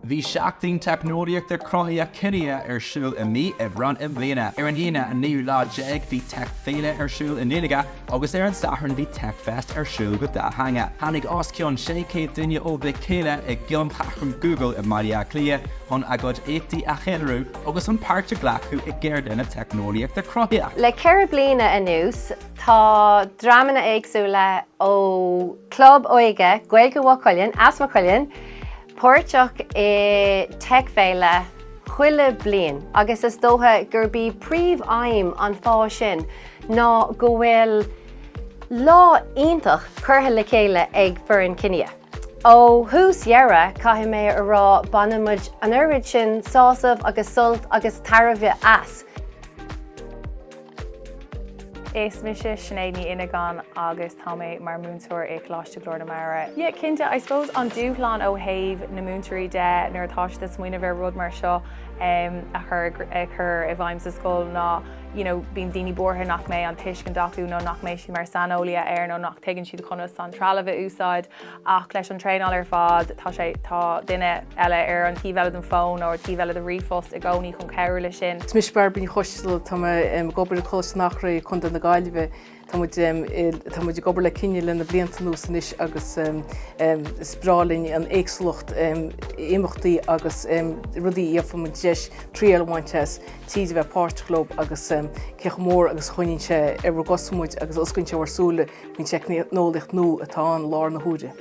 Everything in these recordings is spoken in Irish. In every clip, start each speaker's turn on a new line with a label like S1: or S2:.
S1: Bhí Seachtain Teicneolaíochta Cruthaithí Kinia ar siúl i mí Aibreáin i mbliana. Ar an Aoine, an naoú lá déag, bhí Tech Féile ar siúl i nGaeilge agus ar an Satharn bhí Tech Fest ar siúl go dátheangach. Tháinig os cionn 600 duine óg le chéile i gCeanncheathrú Google i mBaile Átha Cliath chun a gcuid éachtaí a cheiliúradh agus chun páirt a ghlacadh i gceardlanna teicneolaíochta cruthaithí. Le ceithre bliana
S2: anuas, Tá drámanna éagsúla ó Club Óige Gaeilge Mhaigh Cuilinn, as Maigh Cuilinn, páirteach i TechFéile chuile bliain agus is dócha gurb í príomhaidhm an fáth sin ná go bhfuil lá iontach curtha le chéile ag foireann Kinia. Ó thús deireadh, caithfidh mé a rá, baineann muid an oiread sin sásamh agus sult agus tairbhe as.
S3: Is mise Sinéad Ní Fhinneagáin agus tá mé mar mhúinteoir i Coláiste Glór na Mara. Yeah cinnte, I suppose an dúshlán ó thaobh na múinteoirí de nuair atá siad ag smaoineamh ar rud mar seo a chur a chur i bhfeidhm sa scoil ná you know bíonn daoine buartha nach mbeidh an tuiscint acu nó nach mbeidh siad mar saineolaithe air nó nach dtuigeann siad conas an trealamh a úsáid. Ach leis an traenáil ar fad, tá sé, tá duine eile ar an taobh eile den fón nó ar an taobh eile de ríomhphost i gcónaí chun cabhrú leis sin. Is mise Bairbre Ní Choistealbha,
S4: tá mé ag obair i Coláiste an Eachréidh, Co. na Gaillimhe. Tá muid ag obair le Kinia le na blianta anuas anois agus is breá linn an éagsúlacht imeachtaí agus rudaí a fhaigheann muid deis triail a bhaint as, tríd a bheith páirteach leo agus cé chomh mór agus a choinníonn sé ar ár gcosa muid agus a osclaíonn sé ár súile. Don teicneolaíocht nua atá ann in alt na huaire.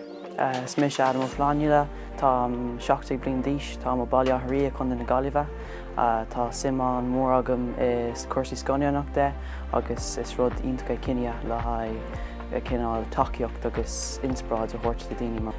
S4: Is mise
S5: Adam Ó Flannghaile, táim 17 bliain d'aois, táim ó Baile Átha an Rí, Co. na Gaillimhe. Tá suim an-mhór agam i cúrsaí scannánaíochta de agus is rud iontach é Kinia le haghaidh cineál tacaíocht agus inspioráid a thabhairt do daoine.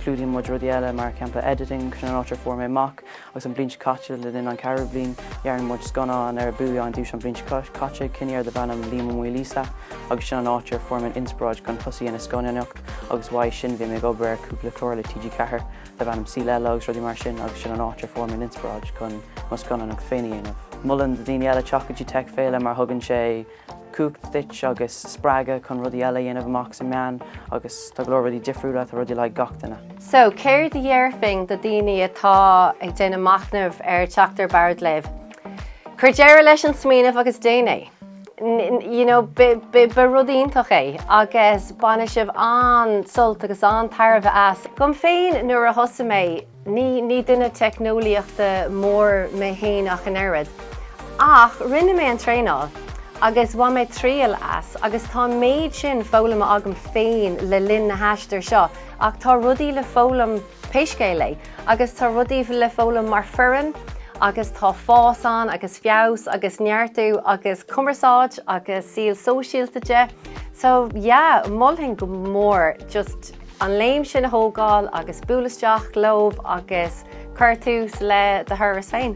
S5: Clúdaíonn muid rudaí eile mar shampla editing, sin an áit ar fuair mé amach Agus an bhliain seo caite le linn an ceathrú bliain dhearna muid scannán ar bhuaigh an duais an bhliain seo caite, Kinia darb ainm Liam Ó Maoil Íosa agus sin an áit ar fuair mé an inspioráid chun tosaí ar an scannánaíocht agus uaidh sin bhí mé ag obair ar cúpla clár le TG4 darb ainm Saol Ella agus rudaí mar sin agus sin an áit ar fuair mé an inspioráid chun mo scannánaíocht féin a dhéanamh. Molaim do dhaoine eile teacht go dtí TechFéile mar thugann sé. cumhacht duit agus spreagadh chun rudaí eile a dhéanamh amach sa meán agus tá go leor rudaí difriúla tá rudaí le haghaidh gach duine. So, céard a
S2: dhéarfainn do dhaoine atá ag déanamh machnaimh ar theacht ar bord libh? Cuir deireadh leis an smaoineamh agus déan é. You know, ba rud iontach é agus bainfidh sibh an-sult agus an-tairbhe as. Dhom féin nuair a thosaigh mé, Ní duine teicneolaíochta mór mé féin ach an oiread, ach rinne mé an traenáil agus bhain mé triail as agus tá méid sin foghlamtha agam féin le linn na haistir seo ach tá rudaí le foghlaim pé scéal é agus tá rudaí le foghlaim mar foireann agus tá fás ann agus feabhas agus neartú agus cumarsáid agus saol sóisialta de so yeah mholfainn go mór just an léim sin a thógáil agus buail isteach leo agus cuir tús le do thuras féin.